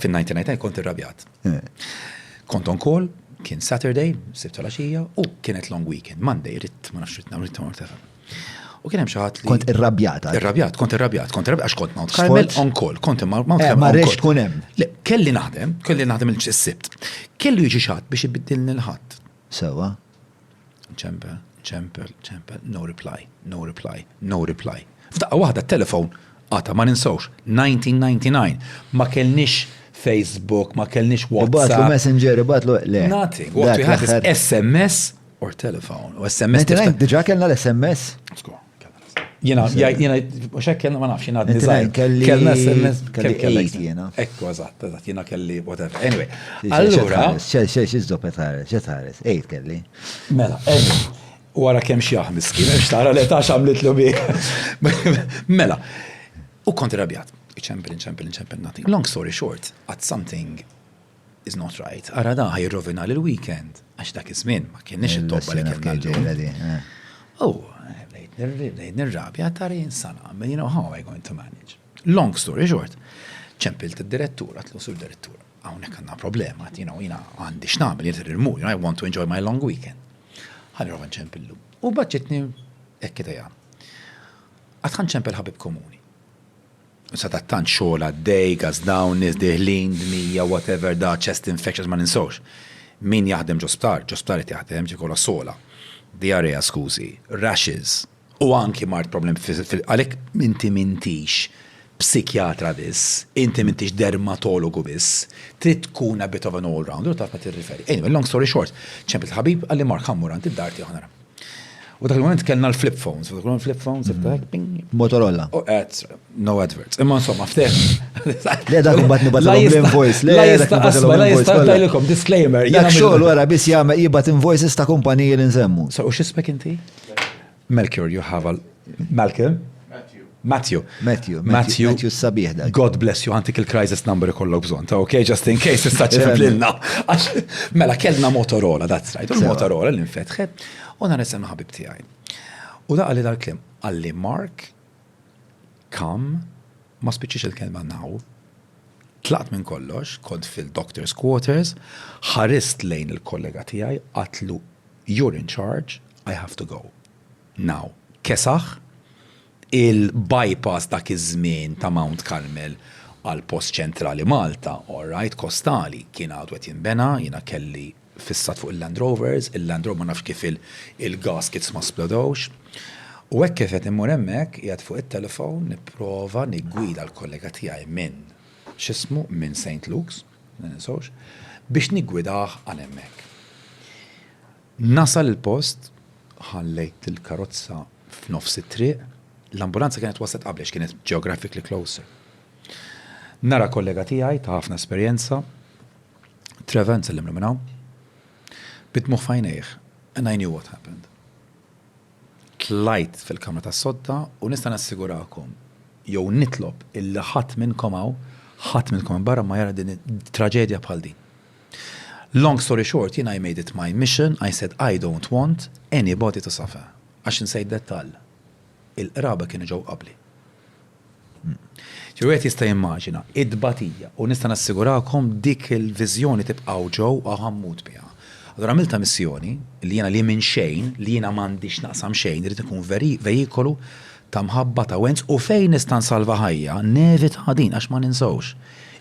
Fin-1999 kont irrabjat. Kont on call, kien Saturday, sibt tal-axija, u kienet long weekend, Monday, ritt, ma nafx ritt namlu, ritt namlu, U kien hemm xi ħadd li. Kont irrabjat. Irrabjat, kont irrabjat, kont irrabjat għax kont Mount Carmel on call, kont eh, Mount Carmel. Ma rridx tkun hemm. Le, kelli naħdem, kelli naħdem il-sibt. Kellu jiġi xatt biex ibiddilni l-ħadd. Sewa. Ċempel, ċempel, ċempel, no reply, no reply, no reply. F'daqqa waħda t-telefon għata ma ninsawx, 1999, ma kellniex Facebook, ma kellniex WhatsApp. Batlu messenger, batlu le. Nothing. What we had is SMS or telephone. U SMS. Diġa kellna l-SMS. Skur. Jena, jena, mux hekk jena ma nafx jena għadni zaħir. Kelli, kellna SMS, kelli kelli jena. Ekku, eżatt, eżatt, jena kelli, whatever. Anyway, allura. Xe, xe, xe, zdo petare, xe tares, ejt kelli. Mela, anyway, wara kem xieħ miskin, xtara li ta' xamlit lu bi. Mela, u konti rabjat. Ċempel, ċempel, ċempel, nothing. Long story short, at something, is not right. Ara da ħaj rovina l weekend għax dak iż-żmien ma kienx it-tobba li kien kellu. Oh, bdejt nirrabja tari insana, you know how I going to manage. Long story short, ċempilt id-direttur, għatlu sur direttur, għawnek għanna problema, you know, jina għandi xnamil, jirtir il-mur, I want to enjoy my long weekend. Għalli rovan ċempillu. U bħadġitni ekkita jgħam. Għatħan ċempil ħabib komuni. Sadattant xogħol għaddej, gas down, nies dieħlin, dmija, whatever da, chest infections, ma ninsewx. Min jaħdem ġo sptar, ġo sptar qed jaħdem, ġifieri jkollha sogħla, diarrhea skużi, rashes, u anki mard problem fil-, għalhekk inti m'intix psikjatra biss, inti m'intix dermatologu biss, trid tkun a bit of an all-rounder u taf ma tirriferi. Anyway, long story short, ċempilt il-ħabib, qalli Mark ħa mmur għand id-dar tiegħu nara. U dak il-moment kellna l-flip phones, dak il-moment flip phones, mm-hmm. iktar hekk ping. Motorola. U għed, no adverts. Imma insomma, fteħ. Le dak bat nibat l-invoice. Le jista asma, le jista tajlikom, disclaimer. Dak xogħol wara biss jagħmel jibat invoices ta' kumpaniji li nżemmu. So u x'ismek inti? Melchior, you have a Malcolm? Matthew. Matthew. Matthew. Matthew sabiħ dak. God bless you, għantik il-crisis number ikollok bżon ta' ok, just in case tista' ċemplilna. Mela, kellna Motorola, that's right. Il-Motorola li nfetħet, u nhar isem ħabib tiegħi. U da għalli dal-klim, għalli Mark, kam, ma spiċċiex il-kelma naw, tlaqt minn kollox, kont fil-doctor's quarters, ħarist lejn il-kollega tiegħi, għatlu, you're in charge, I have to go. Now, kesaħ, il-bypass dak iż-żmien ta' Mount Carmel għall-post ċentrali Malta, all right, kostali, kien għadu qed jinbena, jiena kelli fissat fuq il-Land Rovers, il-Land Rover ma nafx kif il-gaskets ma splodewx. U hekk kif qed immur hemmhekk, qiegħed fuq it-telefown nipprova niggwida l-kollega tiegħi minn, x'ismu, minn Saint Luke's, ma ninsewx, biex niggwidah għal hemmhekk. Nasal il-post, ħallejt il-karozza f'nofs it-triq, l-ambulanza kienet waslet qabli għax kienet geographically closer. Nara kollega tiegħi ta' ħafna esperjenza, Trevor, nsellimlu minn hawn, bid-dmugħ f'għajnejh, and I knew what happened. Tlajt fil-kamra tas-sodda u nista' nassigurakom jew nitlob illi ħadd minnkom hawn, ħadd minnkom hemm barra ma jara din traġedja bħal din. Long story short, jiena I made it my mission, I said I don't want anybody to suffer. Għax insejt dettall, il-qraba kienu ġew qabli. Ġifieri wieħed jista' jimmaġina it-tbatija u nista' nassigurakom dik il-viżjoni tibqa' hawn ġo u hawn ħammut biha. Allura għamiltha missjoni li jiena li minn xejn, li jiena m'għandix x'naqsam xejn, irid inkun veri, vehikolu ta' mħabba, ta' wens, u fejn nista' nsalva ħajja, nevita din għax ma ninsewx.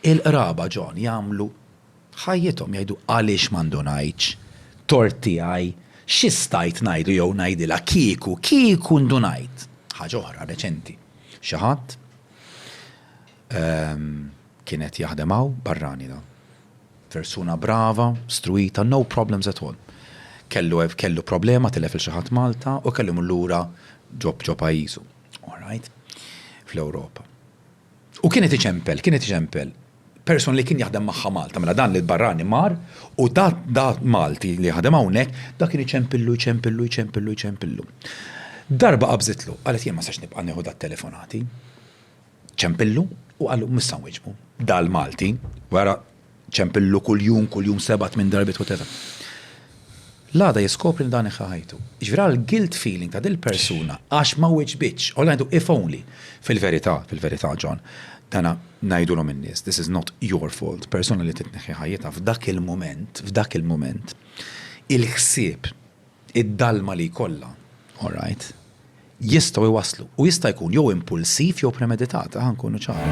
Il-qraba, John, jagħmlu ħajjithom, jgħidu għaliex ma ndunajtx? Tort tiegħi? Xi stajt ngħidlu jew ngħidilha kieku, kieku ndunajt? Ħaġa oħra reċenti. Xi ħadd? Kien qed jaħdem hawn, barrani dan. Persuna brava, struita, no problems at all. Kellu kellu problema tilef il xi ħadd Malta u kellu jmur lura ġo ġo pajjiżu. All right? Fl-Ewropa. U kien qed iċempel, kien qed iċempel person li kien jaħdem magħha Malta, mela dan li barrani mar u da da Malti li jaħdem hawnhekk, da kien iċempillu, iċempillu, iċempillu, iċempillu. Darba qabżitlu, qalet jien ma sax nibqa' nieħu dat-telefonati. Ċempillu u qallu, Mhux sa nwieġbu. Dal Malti, wara ċempillu kuljum, kuljum seba' tmien darbiet u teta'. L-għada jiskopri li dan iħa ħajtu. Jiġifieri ara l-guilt feeling ta' dil-persuna għax ma wiġbitx. U ngħidu if only. Fil-verità, fil-verità John, dana ngħidulhom in-nies, this is not your fault, persuna li titneħħi ħajjitha f'dak il-mument, f'dak il-mument, il-ħsieb, id-dalma li jkollha, alright, jistgħu jwasslu, u jista' jkun jew impulsiv jew premeditat, aħa nkunu ċari.